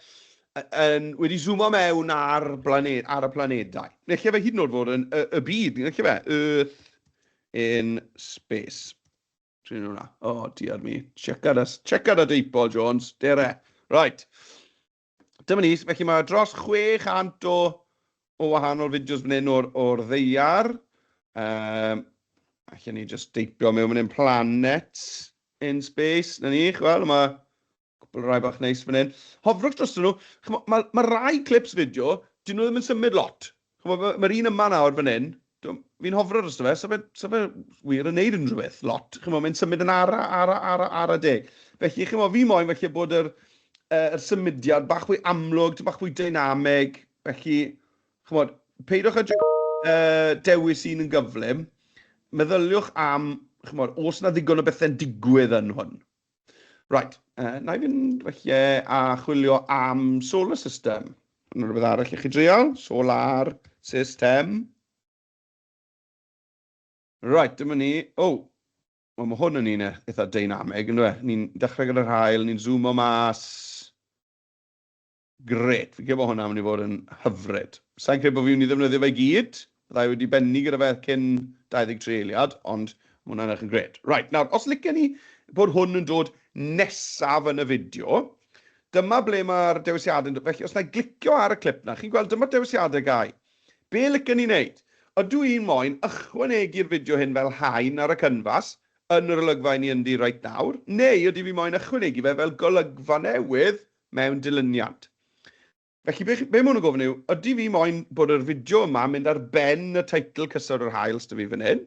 yn, wedi zoomo mewn ar, blaned, ar y planedau. Neu lle fe hyd yn oed fod yn y, y byd, neu lle fe, Earth in space. Trin hwnna. O, oh, diar mi. Checar a, checar a deipol, Jones. Dere. Right. Dyma ni, felly mae dros 600 o, o wahanol fideos fan hyn o'r, or ddeiar. Um, Alla ni just deipio mewn fan hyn, planet in space, na ni, chwel, mae Cwpl rai bach neis fan hyn. Hofrwch drostyn nhw. Ch'mo, ma' ma' rai clips fideo, 'dyn nhw ddim yn symud lot. Ch'mo, ma' ma'r un yma nawr fan hyn, t'mo, fi'n hofro drosto fe, sa fe sa fe wir yn neud unrhyw beth lot. Ch'mo, mae'n symud yn ara, ara, ara, ara deg. Felly, ch'mo, fi moyn falle bod yr yy yr symudiad bach fwy amlwg, ty' bach fwy dynameg. Felly, ch'mod, peidiwch â jys yy dewis un yn gyflym. Meddyliwch am, ch'mod, o's 'na ddigon o bethe'n digwydd yn hwn? Right, uh, na i fynd felly a chwilio am solar system. Yna rhywbeth arall i chi dreol? Solar system. Right, dyma ni. O, oh, Wel, mae hwn yn un eitha dynamig, ynddo fe? Ni'n dechrau gyda'r hael, ni'n zoomo mas. Grêt, fi'n credu bod hwnna'n mynd i fod yn hyfryd. Sa i'n credu bod fi'n mynd i ddefnyddio fe i gyd, bydda i wedi bennu gyda fe cyn 23 eiliad, ond ma' hwnna'n edrych yn grêt. Reit, nawr, os liciwn ni bod hwn yn dod nesaf yn y fideo, dyma ble mae'r dewisiadau'n dod. Felly, os wna i glicio ar y clip 'na, chi'n gweld dyma'r dewisiadau gau. Be liciwn ni wneud? Ydw i'n moyn ychwanegu'r fideo hyn fel haen ar y cynfas yn yr olygfa 'yn ni ynddi reit nawr, neu ydi fi moyn ychwanegu fe fel golygfa newydd mewn dilyniant. Felly be chi, be ma' hwn yn gofyn yw, ydi fi moyn bod yr fideo yma yn mynd ar ben y teitl Cysur yr Haul s'da fi fan hyn,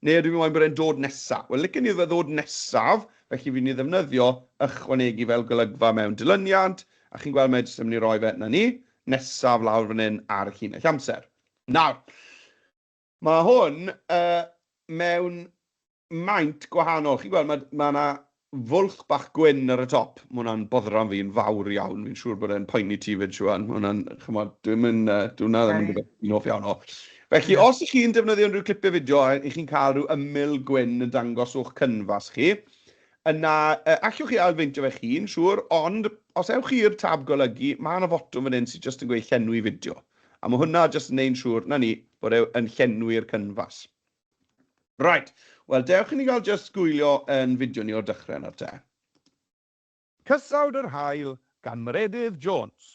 neu ydi fi moyn bod e'n dod nesa? Wel licen i iddo fe ddod nesaf, felly fi'n myn' i ddefnyddio ychwanegu fel golygfa mewn dilyniant, a chi'n gweld mae e jyst yn myn' i roi fe, 'na ni, nesaf lawr fan hyn ar y llinell amser. Nawr, Mae hwn mewn maint gwahanol. Chi'n gweld, mae 'na fwlch bach gwyn ar y top. Mae hwnna'n boddran fi'n fawr iawn. Fi'n siŵr bod e'n poeni ti 'fyd, Siwan. Mae hwnna'n, chimod, dyw e ddim yn, dyw hwnna ddim yn rhywbeth fi'n hoff iawn o. Felly, os 'ych chi'n defnyddio unrhyw clipiau fideo a 'ych chi'n cael rhyw ymyl gwyn yn dangos o'ch cynfas chi, yna allwch chi ailfeintio fe'ch hun, siŵr, ond os ewch chi i'r tab golygu, mae 'na fotwm fan hyn sydd jyst yn gweud llenwi fideo. A ma' hwnna jyst yn neu'n siŵr, 'na ni, bod e yn llenwi'r cynfas. Reit, wel dewch i ni gael jyst gwylio yn fideo ni o'r dychre nawr te. Cysawd yr Haul gan Meredydd Jones.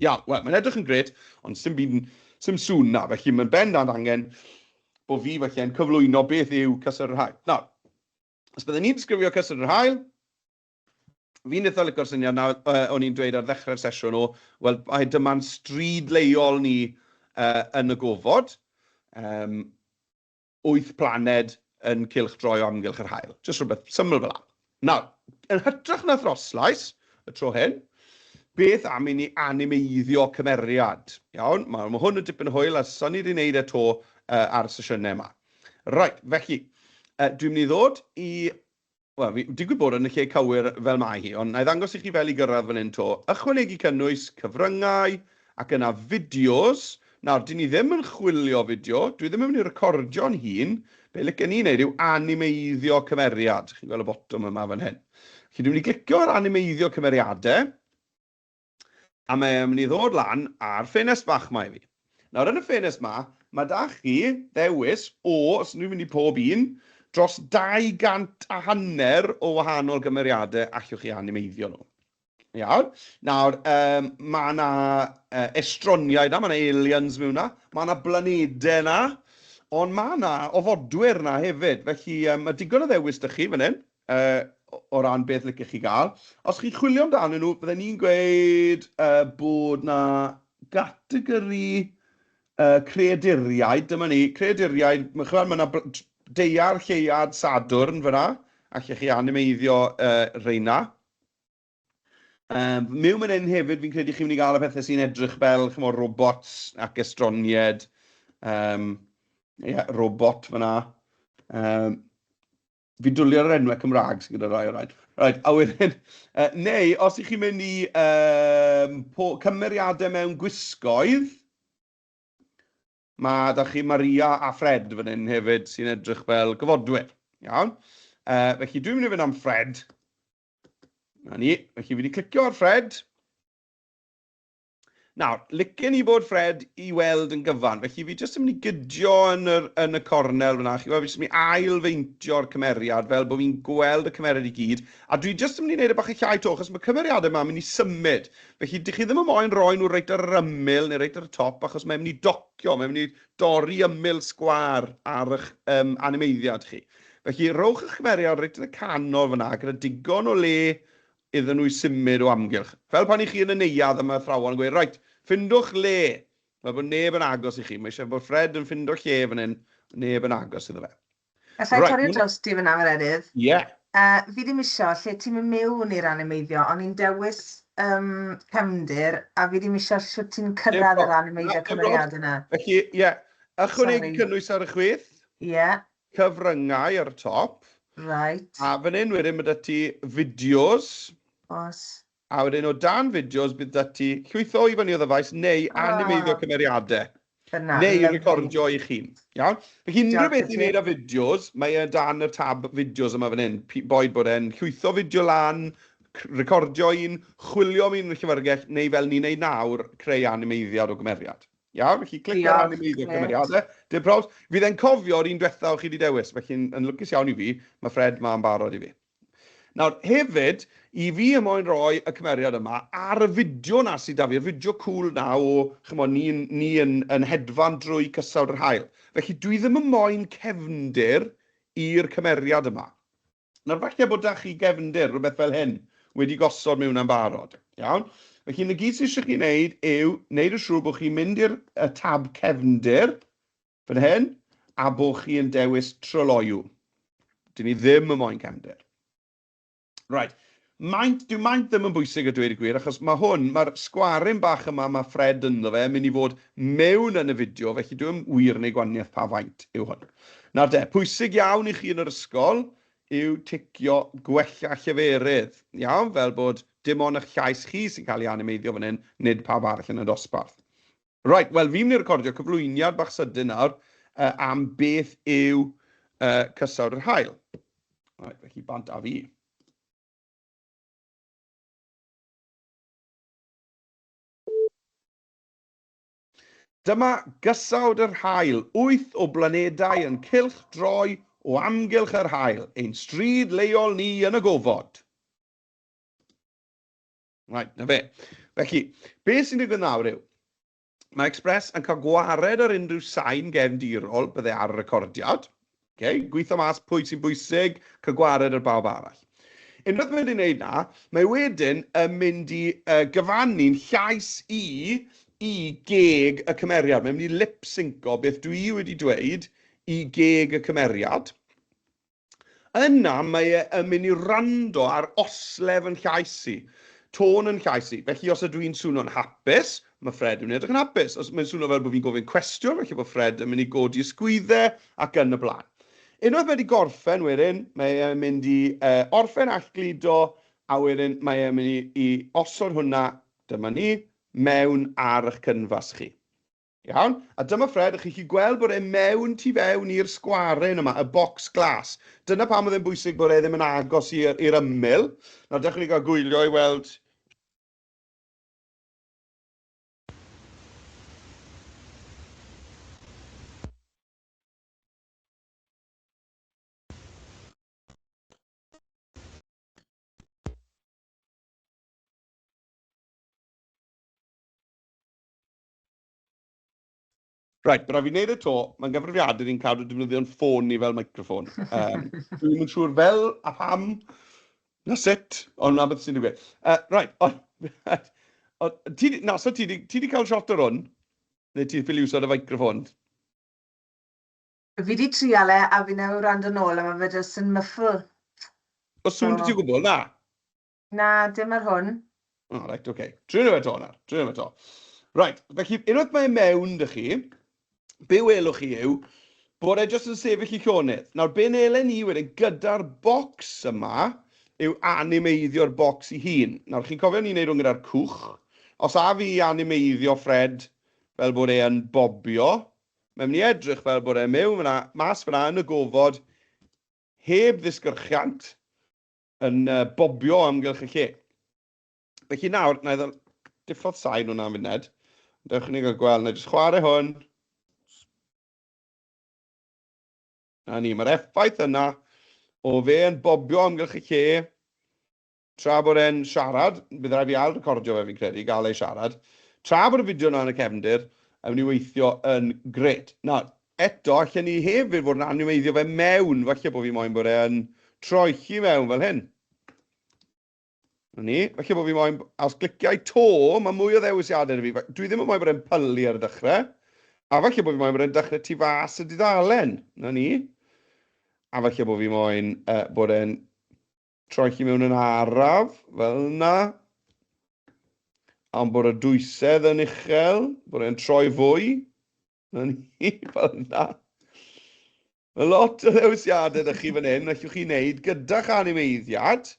Iawn, wel mae'n edrych yn grêt, ond sdim byd yn, sdim sŵn 'na, felly mae'n bendant angen bo fi falle'n cyflwyno beth yw Cysawd yr Haul. Nawr, Os byddwn i'n disgrifio cyswllt yr haul, fi'n eitha licio'r syniad na uh, o'n i'n dweud ar ddechrau'r sesiwn o, wel, mae dyma'n stryd leol ni uh, yn y gofod, um, wyth planed yn cilch droi o amgylch yr hael. Just rhywbeth syml fel la. Nawr, yn hytrach na throslais y tro hyn, beth am i ni animeiddio cymeriad? Iawn, mae, mae hwn yn dipyn hwyl a son i wedi wneud e to uh, ar y sesiynau yma. Reit, felly, uh, dwi'n mynd i ddod i... Wel, fi digwydd bod yn y lle cywir fel mae hi, ond na i ddangos i chi fel i gyrraedd fan hyn to. Ychwanegu cynnwys, cyfryngau, ac yna fideos. Nawr, dyn ni ddim yn chwilio fideo, dwi ddim yn mynd i recordio'n hun. Be lyca ni wneud yw animeiddio cymeriad. Chi'n gweld y botwm yma fan hyn. Felly, dwi'n mynd i glicio ar animeiddio cymeriadau. A mae e'n mynd i ddod lan ar ffenest fach 'ma i fi. Nawr yn y ffenest 'ma, mae 'da chi ddewis o, os ydw i'n mynd i pob un, dros 200 a hanner o wahanol gymeriadau allwch chi animeiddio nhw. Iawn? Nawr, um, mae yna uh, estroniaid yna, mae yna aliens mewn yna, mae yna blanedau yna, ond mae yna ofodwyr yna hefyd. Felly, um, mae digon o ddewis da chi fan hyn. Yy, o ran beth licech chi gael. Os chi'n chwilio amdanyn nhw, bydden i'n gweud yy bod 'na gategori yy creaduriaid, dyma ni, creaduriaid, ch'mod ma' 'na deiar, lleuad, Sadwrn fan'na, allech chi animeiddio yy rheina. Yym, miwn man 'yn hefyd fi'n credu chi'n mynd i gael y pethe sy'n edrych fel, ch'mod, robots ac estronied, yym, ie, robot fan'na. Yym. fi'n dwlio ar yr enwau Cymraeg sydd gyda rai o rhaid. Right, a wedyn, uh, neu os ych chi'n mynd i um, po, cymeriadau mewn gwisgoedd, mae da chi Maria a Fred fan hyn hefyd sy'n edrych fel gyfodwyr. Iawn? Uh, felly dwi'n mynd i fynd am Fred. Na ni. Felly fi wedi clicio ar Fred. Nawr, licen i bod Fred i weld yn gyfan, felly fi jyst yn mynd i gydio yn, yr, yn y cornel fyna, chi weld, fi jyst yn mynd i ail-feintio'r cymeriad fel bod fi'n gweld y cymeriad i gyd, a dwi jyst yn mynd i wneud e bach yn llai to, achos mae cymeriadau yma yn mynd i symud, felly dych chi ddim yn moyn roi nhw reit ar yr ymyl neu reit ar y top, achos mae'n mynd i docio, mae'n mynd i dorri ymyl sgwâr ar eich um, animeiddiad chi. Felly, rhowch eich cymeriad reit yn y canol fyna, gyda digon o le iddyn nhw i symud o amgylch. Fel pan 'y chi yn y neuadd a mae athrawon yn gweud, 'Reit, ffindwch le! fel bod neb yn agos i chi. Mae eisiau bod Fred yn ffindo lle fan hyn, neb yn agos iddo fe. Alla i torri dros ti fan'na, Yr Eryr? Ie. Fi ddim isio, lle ti'm yn mewn i'r animeiddio, o'n i'n dewis yym cefndir, a fi ddim isio shwt ti'n cyrraedd yr animeiddio cymeriad yna. Felly, ie, ychwanegu cynnwys ar y chwith. Ie. cyfryngau ar y top. Reit. A fan hyn wedyn ma' 'da ti fideos. Oes. A wedyn o dan fideos bydd 'da ti llwytho i fyny o ddyfais neu animeiddio cymeriadau. Dyna, lyfli. Neu recordio eich hun. Iawn? Felly unrhyw beth i wneud â fideos, mae e dan y tab fideos yma fan hyn. Boed bod e'n llwytho fideo lan, recordio un, chwilio am un yn y llyfrgell neu fel ni'n wneud nawr, creu animeiddiad o gymeriad. Iawn, felly clicio ar animeiddio cymeriadau. Dim probs. Fydd e'n cofio'r un diwetha o chi wedi dewis, felly yn lwcus iawn i fi, mae Fred ma yn barod i fi. Nawr, hefyd, i fi y moyn roi y cymeriad yma ar y fideo na sydd da fi, y fideo cool na o, chymo, ni, ni yn, yn hedfan drwy cysawd yr hael. Felly, dwi ddim yn moyn cefndir i'r cymeriad yma. Nawr, falle bod 'da chi gefndir, rhywbeth fel hyn, wedi gosod mewn am barod. Iawn? Felly, na gyd sydd eisiau chi wneud yw wneud yn siŵr bod chi'n mynd i'r tab cefndir, fan hyn, a bod chi yn dewis tryloyw. Dyn ni ddim yn moyn cefndir. Right. Maint, dyw maint ddim yn bwysig a dweud y gwir, achos mae hwn, mae'r sgwaryn bach yma mae Fred ynddo fe yn mynd i fod mewn yn y fideo, felly dyw e ddim wir yn ei gwaniaeth pa faint yw hwn. Nawr de, pwysig iawn i chi yn yr ysgol yw ticio gwella lleferydd, iawn, fel bod dim ond eich llais chi sy'n cael ei animeiddio fan hyn, nid pawb arall yn y dosbarth. Reit, wel fi'n mynd i recordio cyflwyniad bach sydyn nawr uh, am beth yw uh, cysawd yr hael. Reit, felly bant a fi. Dyma gysawd yr hael, wyth o blanedau yn cylch droi o amgylch yr hael, ein stryd leol ni yn y gofod. Right, na fe. Felly, be sy'n digwydd nawr yw, mae Express yn cael gwared ar unrhyw sain gefndirol bydde ar y recordiad. Okay? Gweithio mas pwy sy'n bwysig, cael gwared ar bawb arall. Unwaith mae wedi gwneud na, mae wedyn yn mynd i uh, gyfannu'n llais i i geg y cymeriad. Mae'n mynd i lip-synco beth dwi wedi dweud i geg y cymeriad. Yna mae e yn mynd i wrando ar oslef yn llais i, tôn yn llais i. Felly os ydw i'n swno'n hapus, mae Fred yn mynd i edrych yn hapus. Os mae'n swno fel bod fi'n gofyn cwestiwn, felly bod Fred yn mynd i godi y sgwydde ac yn y blaen. Unwaith mae e wedi gorffen wedyn, mae e'n mynd i orffen a'ch gludo a wedyn mae e'n mynd i osod hwnna, dyma ni, mewn ar 'ych cynfas chi. Iawn, a dyma Fred, a chi'n gallu gweld bod e mewn tu fewn i'r sgwaryn yma, y bocs glas. Dyna pam oedd e'n bwysig bod e ddim yn agos i'r i'r ymyl. Nawr, dewch i ni gael gwylio i weld Right, but fi wneud y to, mae'n gyfrifiadur i'n cadw defnyddio'n ffôn ni fel microffon. Um, Dwi'n mynd siŵr fel a pam, na sut, ond na beth sy'n digwydd. Uh, right, ond... Ti, na, so ti wedi cael shot ar hwn? Neu ti'n ffili usod y microffon? Fi wedi trial e, a fi newydd rand yn ôl, a mae fe jyst yn myffl. O sŵn so... ti gwbl, na? Na, dim ar hwn. O, oh, reit, oce. Okay. Drwy nhw eto, nawr. Drwy nhw eto. Reit, felly, unwaith mae e mewn dych chi, be welwch chi yw bod e jyst yn sefyll i llonydd. Nawr, be'n elen ni wedyn gyda'r bocs yma yw animeiddio'r bocs i hun. Nawr, chi'n cofio ni'n neud hwn gyda'r cwch. Os a fi animeiddio Fred fel bod e yn bobio, mae'n mynd i edrych fel bod e mewn fyna, mas fyna yn y gofod, heb ddisgyrchiant, yn uh, bobio amgylch y lle. Felly nawr, na i ddod diffodd sain hwnna'n funed. Dewch ni gael gweld, na i jyst chwarae hwn. Na ni, mae'r effaith yna o fe yn bobio amgylch y lle tra bod e'n siarad, bydd rhaid fi ail recordio fe fi'n credu, gael ei siarad, tra bod y fideo yna yn y cefndir, yn mynd i weithio yn gred. Nawr, Eto, allen ni hefyd fod yn animeiddio fe mewn, falle bod fi moyn bod e'n troelli mewn fel hyn. Na ni, falle bod fi moyn, a os gliciau to, mae mwy o ddewisiadau na fi. Dwi ddim yn moyn bod e'n pylu ar y dechrau. A falle bod fi moyn bod e'n dechrau tu fas y dudalen. Na ni. A falle bod fi moyn uh, bod e'n troelli mewn yn araf, fel yna. Ond bod y dwysedd yn uchel, bod e'n troi fwy. Yn hi fel yna. Mae lot o ddewisiadau ydych chi fan hyn, allwch chi wneud gyda'ch animeiddiad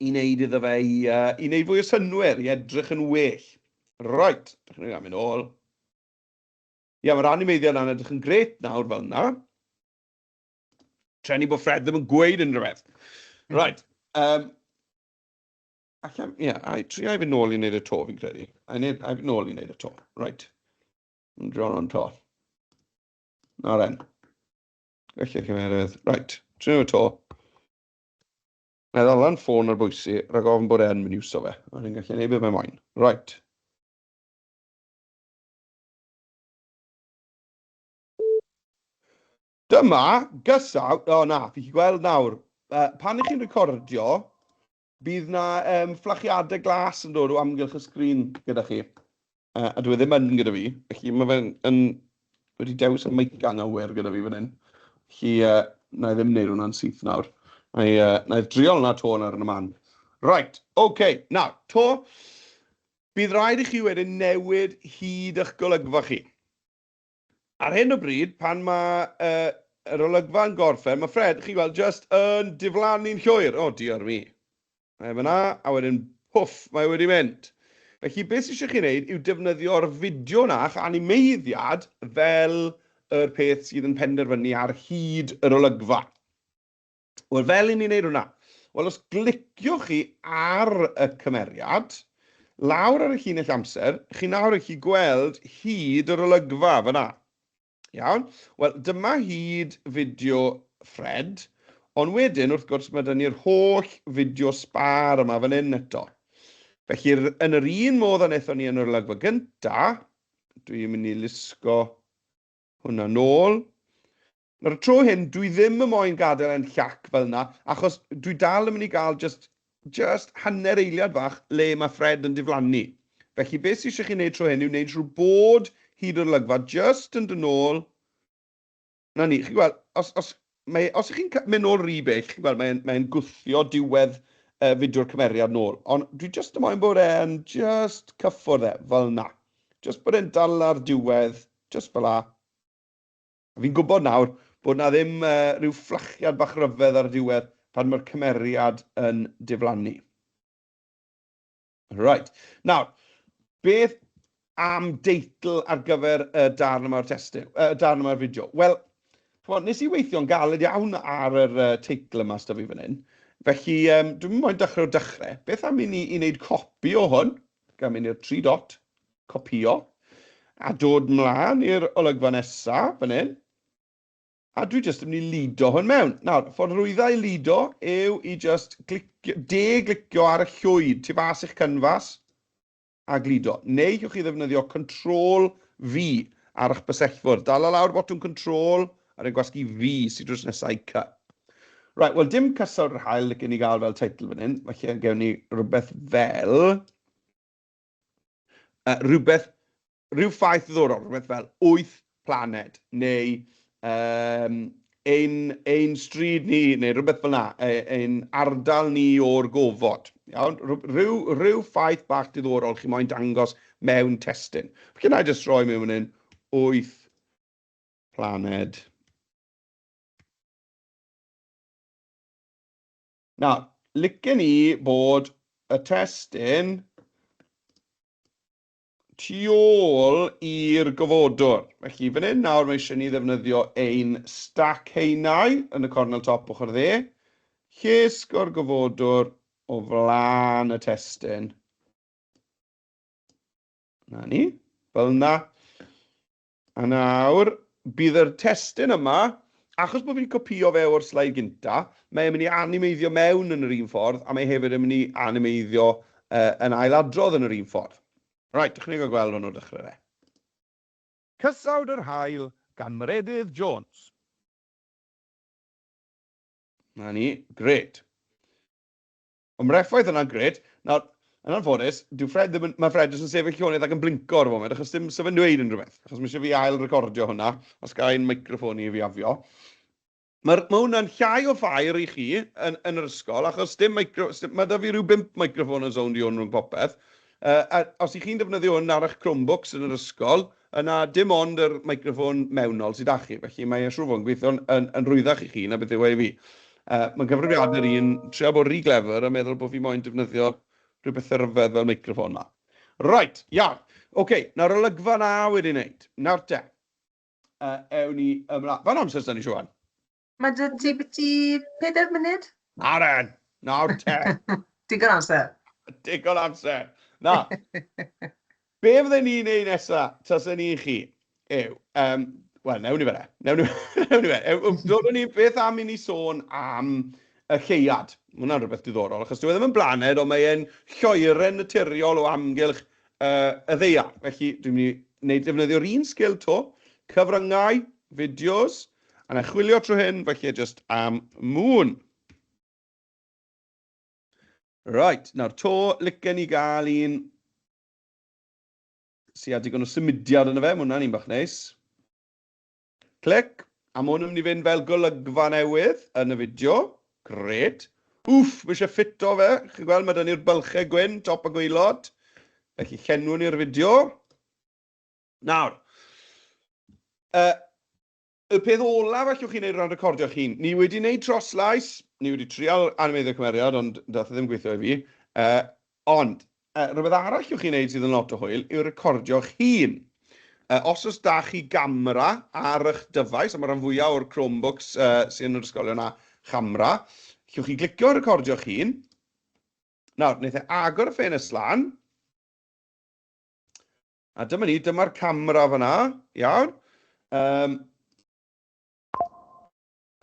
i wneud iddo fe i, uh, i wneud fwy o synwyr, i edrych yn well. Right, ydych chi'n mynd ôl. Ie, mae'r animeiddiad yna'n edrych yn gret nawr fel yna. Treni bod Fred ddim yn gweud unrhyw beth. Right, um, Ac am, ie, yeah, I try i fynd nôl i wneud y to, fi'n credu. I need, I fynd nôl i wneud y to. Right. Yn dron o'n to. Na ren. Felly, cymerodd. Right. Trin y to. Na ddalan ffôn ar bwysi, rhaid ofn bod e'n mynd iwso fe. Ond yn gallu neud beth mae'n moyn. Right. Dyma, gysaw, o oh, na, fi chi gweld nawr, uh, pan ych chi'n recordio, Bydd na um, fflachiadau glas yn dod o amgylch y sgrin gyda chi. Uh, a dwi e ddim yn gyda fi. Felly mae fe'n yn, wedi dewis y meic anghywir gyda fi fan hyn. Felly uh, na i e ddim wneud hwnna'n syth nawr. Na i, uh, na i e driol na to nawr yn y man. Right, oce. Okay. Nawr, to, bydd rhaid i chi wedyn newid hyd eich golygfa chi. Ar hyn o bryd, pan mae yr olygfa yn gorffen, mae Fred, chi'n gweld, jyst yn diflannu'n llwyr. O, diolch mi. Mae fyna, a wedyn, pwff, mae wedi mynd. Felly, beth sy'n eisiau chi wneud yw defnyddio'r fideo yna a'ch animeiddiad fel yr peth sydd yn penderfynu ar hyd yr olygfa. Wel, fel i ni'n neud hwnna? Wel, os gliciwch chi ar y cymeriad, lawr ar y llinell amser, chi nawr yn gallu gweld hyd yr olygfa fyna. Iawn? Wel, dyma hyd fideo Fred, ond wedyn, wrth gwrs, mae dyn ni'r holl fideo sbar yma fan hyn eto. Felly, yn yr un modd a wnaethon ni yn yr olygfa gynta, dwi'n mynd i lusgo hwnna nôl. Nawr y tro hyn, dwi ddim yn moyn gadael e'n llac fel yna, achos dwi dal yn mynd i gael jyst, jyst hanner eiliad fach le mae Fred yn diflannu. Felly beth sydd eisiau chi wneud tro hyn yw wneud siŵr bod hyd o'r olygfa jyst yn dod nôl. 'Na ni. Chi'n gweld, os, os, mae, os chi'n mynd nôl rhy bell, chi'n gweld, mae'n, mae'n gwthio diwedd uh, fideo'r cymeriad nôl. Ond dwi jyst yn moyn bod e'n jyst cyffwrdd e, fel na. Jyst bod e'n dal ar diwedd, jyst fel la. Fi'n gwybod nawr bod 'na ddim rhyw fflachiad bach ryfedd ar y diwedd pan mae'r cymeriad yn diflannu. Right. Nawr, beth am deitl ar gyfer y darn yma'r testyn, y darn yma'r fideo? Wel, chymod, nes i weithio'n galed iawn ar yr teitl yma sydd fi fan hyn. Felly, um, dwi'n mynd moyn dechrau o dechrau. Beth am i ni i wneud copi o hwn? gan mynd i'r tri dot, copio, a dod mlaen i'r olygfa nesa, fan hyn, a dwi jyst yn mynd i lido hwn mewn. Nawr, ffordd rwydda i lido yw i jyst glicio, de-glicio ar y llwyd tu fas i'ch canfas a glido. Neu ywch chi ddefnyddio Control V ar eich bysellfwrdd. Dala lawr botwm Control V Ar ein gwasg i fi sy drws nesa i Cup. Right, wel dim cysawd yr hael licen i gael fel teitl fan hyn, felly gewn ni rhywbeth fel... Uh, rhywbeth, rhyw ffaith ddiddorol, rhywbeth fel wyth planed, neu um, ein, ein stryd ni, neu rhywbeth fel yna, e, ein ardal ni o'r gofod. Iawn? Rhyw, rhyw ffaith bach diddorol chi moyn dangos mewn testyn. Felly na i jyst roi mewn yn 8 planed. Nawr, licen ni bod y testyn tu ôl i'r gofodwr. Felly, fan hyn nawr mae eisiau ni ddefnyddio ein stac heinau yn y cornel top ochr dde. Llesg o'r gofodwr o flaen y testyn. Na ni, fel yna. A nawr, bydd yr testun yma, achos bod fi 'di copïo fe o'r sleid gynta, mae e'n mynd i animeiddio mewn yn yr un ffordd, a mae hefyd yn mynd i animeiddio yn ailadrodd yn yr un ffordd. Reit, dychmyga gweld hwn o'r dechrau de. Cysawd yr Haul gan Meredydd Jones. 'Na ni, grêt. Ond mae'r effaith yna'n grêt. Nawr, yn anffodus, dyw Fred ddim yn... Mae Fred jyst yn sefyll tu ôl ac yn blinco ar y foment, achos dim sef yn dweud unrhyw beth. Achos mae eisiau fi ail-recordio hwnna, os ga i'n meicroffon i fiafio. Mae'r... Mae hwnna'n llai o ffair i chi yn... yn yr ysgol, achos dim meicro... Mae 'da fi rhyw bump meicroffon yn sownd i hwn rhwng popeth. Yy, a os 'y chi'n defnyddio hwn ar eich Chromebooks yn yr ysgol, Yna, dim ond yr meicroffon mewnol sy 'da chi, felly mae e siŵr o fod yn gweithio'n yn yn rhwyddach i chi na beth yw e i fi. Yy, mae'n gyfrifiadur i un trio bod ry glefyr a meddwl bo fi moyn defnyddio rhyw bethe ryfedd fel meicroffon 'ma. Reit, iawn. Ok, nawr olygfa 'na wedi neud. Nawr te, yy, ewn ni ymla-. Faint o amser s'da ni, Siwan? Mae 'da ti biti pedair munud? Na ren, nawr te. Digon amser. Digon amser. Na. Be fydden ni'n neud nesa, tasen ni chi, yw, um, wel, newn ni fe re. Newn ni fe. Dodwn ni beth am i ni sôn am y lleuad. Mae hwnna'n rhywbeth diddorol, achos dwi e ddim yn blaned, ond mae e'n lloeren naturiol o amgylch uh, y ddeia. Felly, dwi'n mynd i wneud defnyddio'r un sgil to, cyfryngau, fideos, A na chwilio trwy hyn, falle just am mŵn. Right, nawr to, licen ni gael un sy'n a digon o symudiad yn y fe, mae hwnna'n un bach neis. Clic, a mae hwn yn mynd i fynd fel golygfa newydd yn y fideo. Gret. Wff, mae eisiau ffito fe. Chi'n gweld, mae da ni'r bylchau gwyn, top a gweilod. Felly, llenwn ni'r fideo. Nawr, y, y peth olaf allwch chi wneud o ran recordio'ch hun, ni wedi wneud troslais, ni wedi trial animeiddio cymeriad, ond dath e ddim gweithio i fi. Uh, ond, uh, rhywbeth arall allwch chi wneud sydd yn lot o hwyl yw recordio'ch hun. Uh, os oes da chi gamera ar eich dyfais, a mae rhan fwyaf o'r Chromebooks uh, sy'n yr ysgolion a chamera, allwch chi glicio recordio'ch hun. Nawr, wnaeth e agor y ffenest lan, A dyma ni, dyma'r camera fanna, iawn. Um,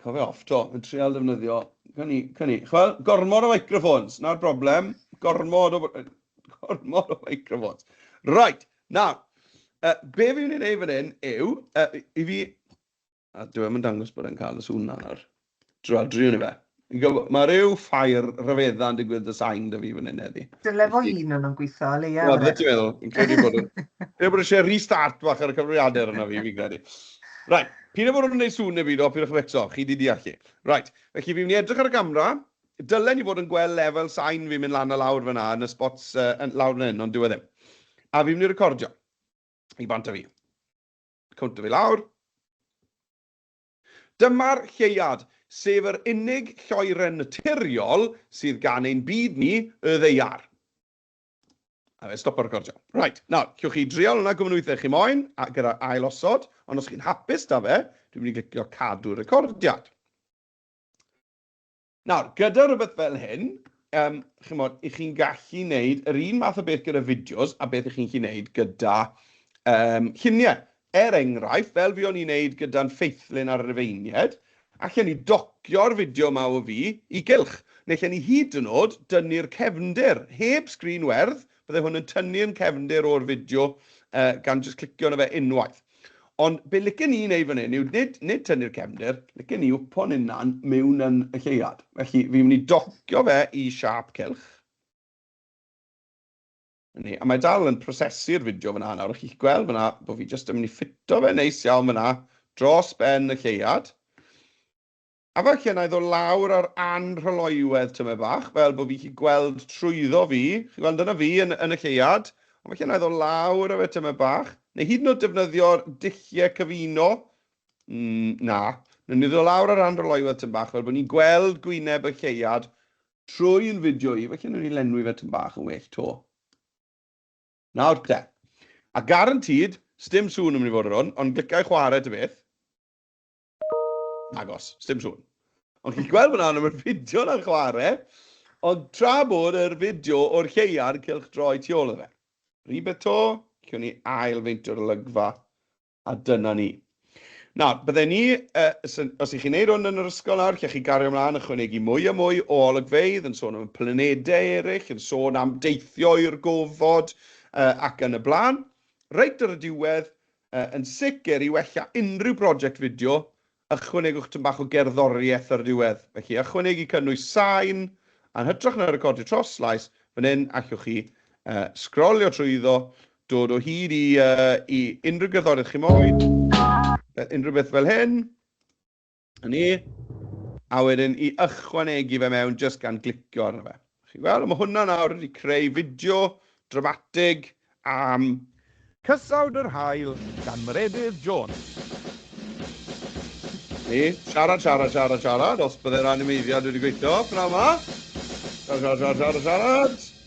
Cofio off to, yn treol defnyddio. Can i, can i. Chwel, gormod o microphones, na'r broblem. Gormod o, gormod o microphones. Right, nawr, uh, be fi'n ei wneud fan hyn yw, uh, i fi A dyw e ddim yn dangos bod e'n cael y sŵn 'na nawr. Dradri o'n i fe. Mae rhyw ffair rhyfeddau yn digwydd dy sain 'da fi fan hyn heddi. Dyle fo un o'n nhw'n gweithio o leia. Wel, beth ti'n meddwl? Fi'n credu bod yn... Credu bod eisiau restart bach ar y cyfrifiadur yna fi, fi'n credu. Right, pyn bod nhw'n gwneud sŵn neu byd o, pyn o'ch eto, chi di deall chi. Right, felly fi'n mynd i edrych ar y gamra. Dylen ni fod yn gweld lefel sain fi'n mynd lan a lawr fanna yn y spots uh, lawr fan hyn, ond dyw e ddim. A fi'n mynd i recordio. I bant a fi. Counter fi lawr. Dyma'r lleuad, sef yr unig lloeren naturiol sydd gan ein byd ni, y ddaear. A fe stopo recordio. Right, nawr, cewch chi drial hwnna gwmwn weithiau chi moyn, a gyda ail osod, ond os chi'n hapus da fe, dwi'n mynd i glicio cadw recordiad. Nawr, gyda rhywbeth fel hyn, yym, chimod, 'ych chi'n gallu neud yr un math o beth gyda fideos a beth 'ych chi'n gallu neud gyda, yym, llunie. Er enghraifft, fel fuon ni'n neud gyda'n ffeithlyn ar y Rufeinied, allen ni docio'r fideo 'ma o fi i gylch, neu allen ni hyd yn o'd dynnu'r cefndir, heb sgrin werdd, Bydde hwn yn tynnu yn cefndir o'r fideo gan jyst clicio arno fe unwaith. Ond be licen i wneud fan hyn yw nid, nid tynnu'r cefndir, licen i wpo'n hunan mewn yn y lleuad. Felly fi'n mynd i docio fe i siâp cylch. Ni, a mae dal yn prosesu'r fideo fyna nawr, a chi'ch gweld fyna bod fi jyst yn mynd i ffito fe neis iawn fyna dros ben y lleuad. A falle wna i ddod lawr ar anrhyloywedd tymed bach, fel bod fi gallu gweld trwyddo fi, chi'n gweld, dyna fi yn, yn y lleuad, ond falle wna i ddod lawr ar fe tymed bach, neu hyd yn oed defnyddio'r dulliau cyfuno, mm, na, wnawn ni ddod lawr ar anrhyloywedd tymed bach, fel bod ni'n gweld gwyneb y lleuad trwy yn fideo i, falle wnawn ni lenwi fe tymed bach yn well to. Nawr te, a garantîd, sdim sŵn yn mynd i fod ar hwn, ond glicai chwarae ta beth. Nagos, sdim sŵn. Ond chi'n gweld fyna yn y fideo na'n chwarae, ond tra bod yr fideo o'r lleuad cylch droi tu ôl fe. Rhywbeth to, cyn ni ail feinto'r olygfa, a dyna ni. Nawr, bydde ni, uh, os ych chi'n neud hwn yn yr ysgol nawr, lle chi gario ymlaen a chwynegu mwy a mwy o olygfeidd, yn sôn am planedau eraill, yn sôn am deithio i'r gofod uh, ac yn y blaen. Reit ar y diwedd, Yn sicr, i wella unrhyw broject fideo, ychwanegwch tym bach o gerddoriaeth ar y diwedd. Felly, ychwanegu cynnwys sain, yn hytrach na recordio troslais, fan hyn, allwch chi sgrolio trwyddo, dod o hyd i unrhyw gerddoriaeth chi moyn, unrhyw beth fel hyn. Yn ni, a wedyn i ychwanegu fe mewn jyst gan glicio arno fe. Chi'n gweld, mae hwnna nawr wedi creu fideo dramatig am Cysawd yr Haul gan Meredydd Jones. Ni, siarad, siarad, siarad, siarad, os byddai'r animeiddiad wedi gweithio, pnawn yma. Siarad, siarad, siarad, siarad, siarad.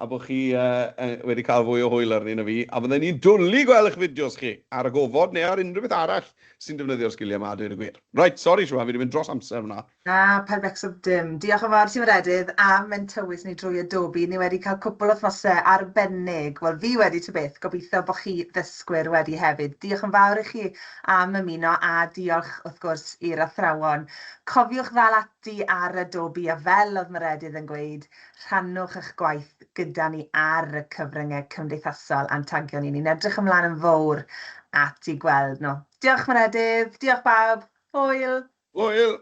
a bod chi wedi cael fwy o hwyl arni na fi, a fydden ni'n dwli gweld eich fideos chi, ar y gofod neu ar unrhyw beth arall sy'n defnyddio'r sgiliau yma a dweud y gwir. Reit, sori Siwan, fi 'di mynd dros amser fan'na. Na, paid becso dim. Diolch yn fawr i ti Meredydd am mynd tywys ni drwy Adobe, ni wedi cael cwpl o wythnosau arbennig, wel fi wedi ta beth, gobeithio bod chi ddysgwyr wedi hefyd. Diolch yn fawr i chi am ymuno a diolch wrth gwrs i'r athrawon. Cofiwch ddal ati ar Adobe a fel oedd Meredydd yn gweud, Rhannwch eich gwaith gyda ni ar y cyfryngau cymdeithasol a'n tagio ni. Ni'n edrych ymlaen yn fowr at i gweld nhw. Diolch Meredydd, diolch bawb. Hwyl! Hwyl!